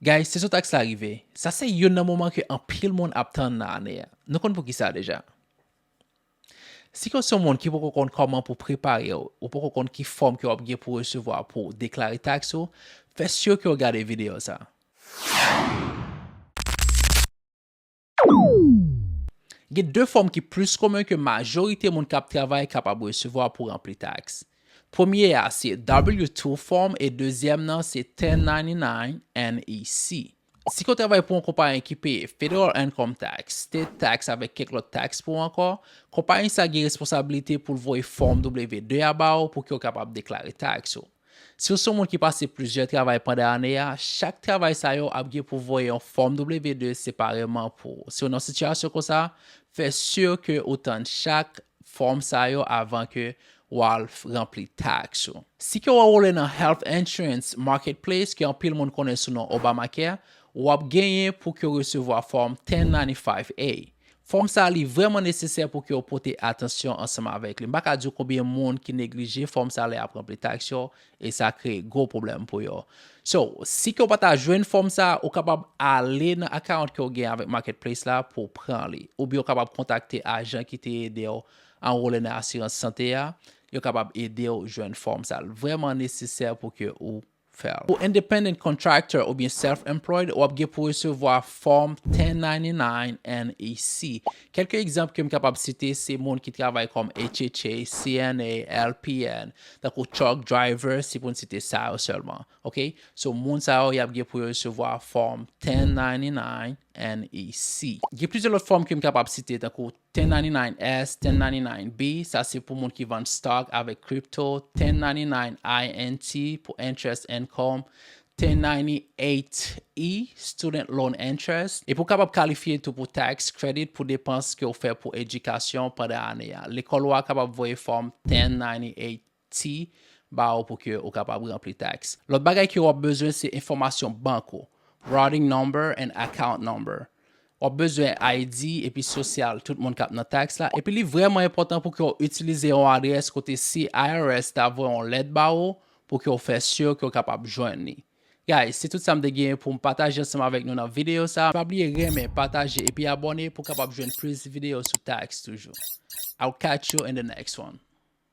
Guys se sou tax la rive. Sa se youn nan moman ke anpil moun ap tann nan ane a. Nou konn poukisa deja. Si ke w se yon moun ki poko konn kòman pou prepare w, ou poko konn ki fòm ke w ap gen pou resevwa pou w deklare tax ou, fè sur ke w gade video sa. Gen de fòm ki plis komen ke majorite moun k ap travay kapab resevwa pou ranpli taks. Premye a se W-2 fòm e dezyèm nan se 1099 NEC. Si ke w travay pou yon konpayi ki peye Federal Income Tax, State Tax avèk kèk lòt taks pou ankò, konpayi sa gen responsabilite pou l voye fòm W-2 a ba w pou ke w kapab deklare taks ou. Si w se yon moun ki pase plizyè travay pandan ane a, chak travay sa yo ap gen pou voye yon fòm W-2 separeman pou ou. Si w nan sitiyasyon konsa, fè si ke ou tann chak fòm sa yo avan ke w al ranpli taks ou. Si ke w anwole nan Health Insurance Marketplace, ke anpil moun konnen sou non Obamacare, w ap genyen pou ke w resevwa fòm 1095-A, Fòm sa a li vrèman nesesè pou ke w pote atansyon ansanm avèk li. M pa ka di w konbyen moun ki neglije fòm sa a lè y ap ranpli taks yo, e sa kreye gwo pwoblèm pou yo. So, si ke w pa ta jwenn fòm sa a, ou kapab ale nan account ke w gen avèk Marketplace la pou w pran li. Oubyen ou kapab kontakte ajan ki te ede w anwole nan asirans sante a, yo kapab ede w jwenn fòm sa a. L vrèman nesesè pou ke ou. fè l. Pou independent contractor oubyen self-employed, w ap gen pou resevwa fòm 1099 NEC. Kèlke egzanp ke m kapab site se moun ki travay kòm HHA, CNA, LPN, tankou truck driver, se pou n site sa yo sèlman. Ok. So, moun sa yo y ap gen pou yo resevwa fòm 1099 NEC. Gen plizyè lòt fòm ke m kapab site tankou 1099S, 1099B, sa se pou moun ki vann stock avèk crypto, 1099INT pou interest income, 1098E, student loan interest, epi ou kapab kalifye tou pou tax credit pou depans ke ou fè pou edikasyon pandan ane a. Lekòl ou a kapab voye fòm 1098. ti ba ou pou ke ou kapab ranpli tax. Lòt bagay ke wap bezwen se enfòmasyon bank ou, routing number and account number. Wap bezwen ID epi sosyal tout moun kap nan tax la epi li vrèman enpòtan pou ke ou itilize yon adrès kote si IRS ta voye yon lèt ba ou pou ke ou fè sur ke ou kapab jwenn li. Guys, se tout sam te genyen poum pataje ansanm avèk nou nan video sa. Pa bliye renmen, pataje epi abòne pou kapab jwenn plis video sou tax toujou. I'll catch you in the next one.